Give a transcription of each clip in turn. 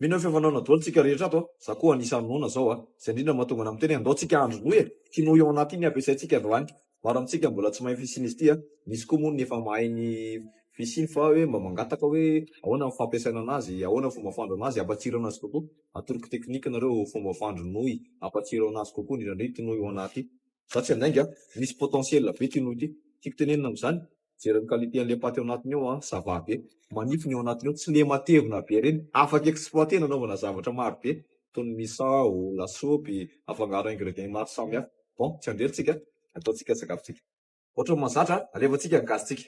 Mino ny fihavanana doly tsika rehetra ato a! Za koa anisany noana zao a! Zay ndrindra mahatonga ana miteny oe andao tsika handry noy e! Kinoa eo anaty iny ampiasaintsika androany! Maro amintsika mbola tsy mahay ny fisian'izy ity a! Misy koa moa ny efa mahay ny fisiany fa oe mba mangataka oe ahoana ny fampiasaina anazy, ahoana ny fomba fandro anazy, ampatsiro anazy kokoa! Atoroko teknika nareo fomba fandro noy ampatsiro anazy kokoa indrindra ndray ity noy eo anaty ity! Za tsy handainga a! Misy potentiel be ity noy ity! Tiako tenenina amzany Jereo ny qualité an'ilay paty ao anatiny ao an, ça va be, manify ny ao anatiny ao, tsy le matevina be reny, afaka exploiter nanaovana zavatra maro be, toy ny misao, lasopy, afangaro ingredients maro samy hafa, bon tsy handrely tsika, ataontsika ny sakafontsika. Ohatra ny mahazatra an, alefantsika ny gazintsika,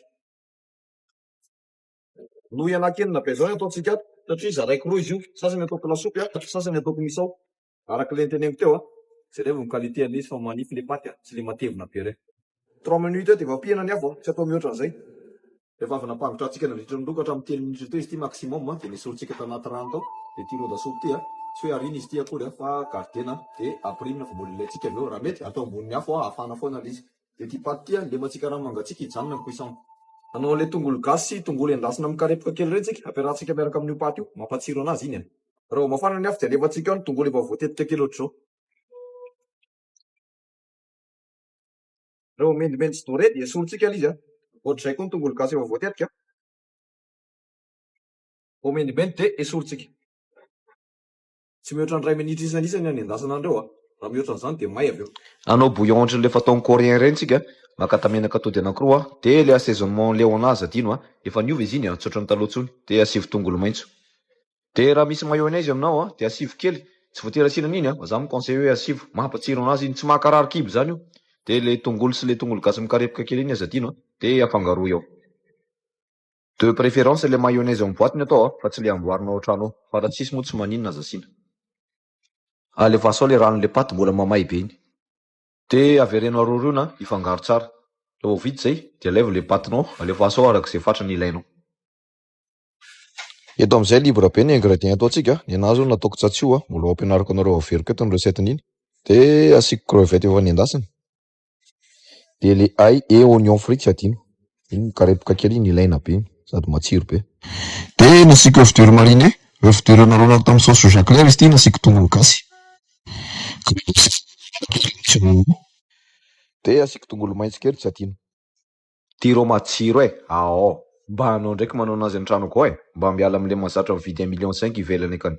noho ialahy kely na be zao ny ataontsika ato satria zaraiko roa izy io, sasany ataoko lasopy an, sasany ataoko misao, Araka le noteneniko teo a, jereo ny qualité an'izy fa manify le paty a, tsy le matevina be reny. Trois minutes eo de efa ampiana ny afo a, tsy atao mihoatra an'izay. Rehefa avy nampangotrahantsika nandritra ny roa ka hatramin'ny telo minitra teo izy ity maximum a, de nesorintsika tao anaty rano tao le ity ron-dasopy ity a, tsy hoe ariana izy ity akory a fa gardena de apirimina vao mbola ilaintsika avy eo, raha mety atao ambonin'ny afo a, afana foana le izy. Dia ity paty ity a, indreo mba tsy karama mangatsiaka hijanona ny cuisson. Anao an'ilay tongolo gasy sy tongolo endasina mikarepoka kely ireny tsika, ampiarahantsika miaraka amin'io paty io, mampatsiro anazy iny e. Raha vao mafana ny afo dia alefantsika ao ny tongolo efa voatetika kely ohatr'izao. Raha vao mendimendy sy doré dia esorintsika ilay izy a. Ohatr'izay koa ny tongolo gasy efa voatetika. Vao mendimendy dia esorintsika. Tsy mihoatra ny iray minitra isan'isany anendasana an'ireo a! Raha mihoatra an'izany dia may avy eo. Hanao bouillon ohatran'ilay fataon'ny coréen ireny tsika, maka tamenaka atody anankiroa a! Dia ilay assaisonnement leo an'azy adino a! Efa niova izy iny a! Tsy ohatran'ny taloha intsony! Dia asivo tongolo maitso. Dia raha misy mayonnaise aminao a! Dia asivo kely! Tsy voatery asiana an'iny a! Fa za mi-conseille hoe asivo! Mampatsiro an'azy iny! Tsy mahakarary kibo izany io! Dia ilay tongolo sy ilay tongolo gasy mikarepoka kely iny aza adino a! Dia afangaro eo. De préférence le mayonnaise en boite ny atao a, fa tsy le amboarina ao an-trano ao, fa raha tsisy moa tsy maninona aza asiana. Alefaso ao le ranon' le paty mbola mamay be iny. De avereno aroriona hifangaro tsara. Raha vao vita izay de alaivo le patinao, alefaso ao arak'izay fatrany ilainao. Eto amin'izay libre be ny ingrédients ataontsika, ny anahy zao nataoko tsatsio a, mbola ho ampianariko anareo averiko eto ny recette-n'iny. De asiako crevettes efa nendasina. Dia le ail et oignon frit tsy adino. Iny mikarepoka kely iny ilaina be iny sady matsiro be. Dia nasiako oeuf dur marine, oeuf dur naroanako tamin'ny sauce soja clair izy ity nasiako tongolo gasy. Dia asiako tongolo maitso kely tsy adino. Ty rô matsiro e! Aao. Mba anao ndraiky manao anazy antranoko ao e! Mba miala amle mazatra mividy un million cinq ivelany akany.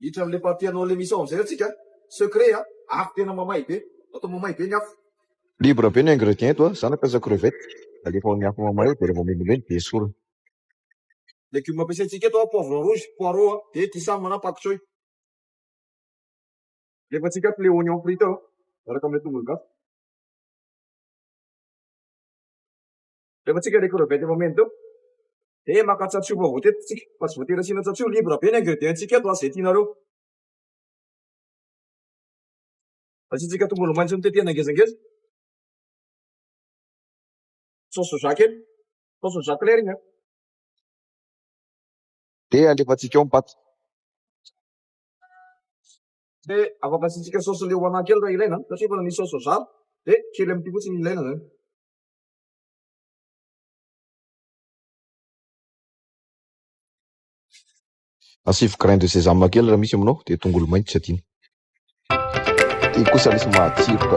Hiditra amin'ilay partie hanao an'ilay mission amin'izay atsika a! Secret a! Afo tena mamay be! Atao mamay be ny afo! Libre be ny ingrédients eto a! Za nampiasa crevettes, alefa ao amin'ny afo mamay dia rehefa milemilemy dia esorina. Légumes ampiasaintsika eto a! Poivron rouge, poireaux a! Dia thysame na pak choy. Alefantsika ato le oignon frit ao miaraka amle tongolo gasy. Alefantsika le crevettes efa mena teo. Dia maka tsatso efa voatetiky tsika fa tsy voatery asiana tsatso, libre be ny ingredients ntsika eto izay tianareo. Asiantsika tongolo maitso notetehina ngezangeza. Sauce soja kely, sauce soja claire iny an. Dia alefantsika ao ny paty. Dia afaka asiantsika saosy leogana kely raha ilaina, satria efa nisy saosy soja, dia kely amin'ity fotsiny no ilaina izany. Asivo grain de sésame kely raha misy aminao, dia tongolo maintso tsy adino. Iny kosa lesy matsiro ka.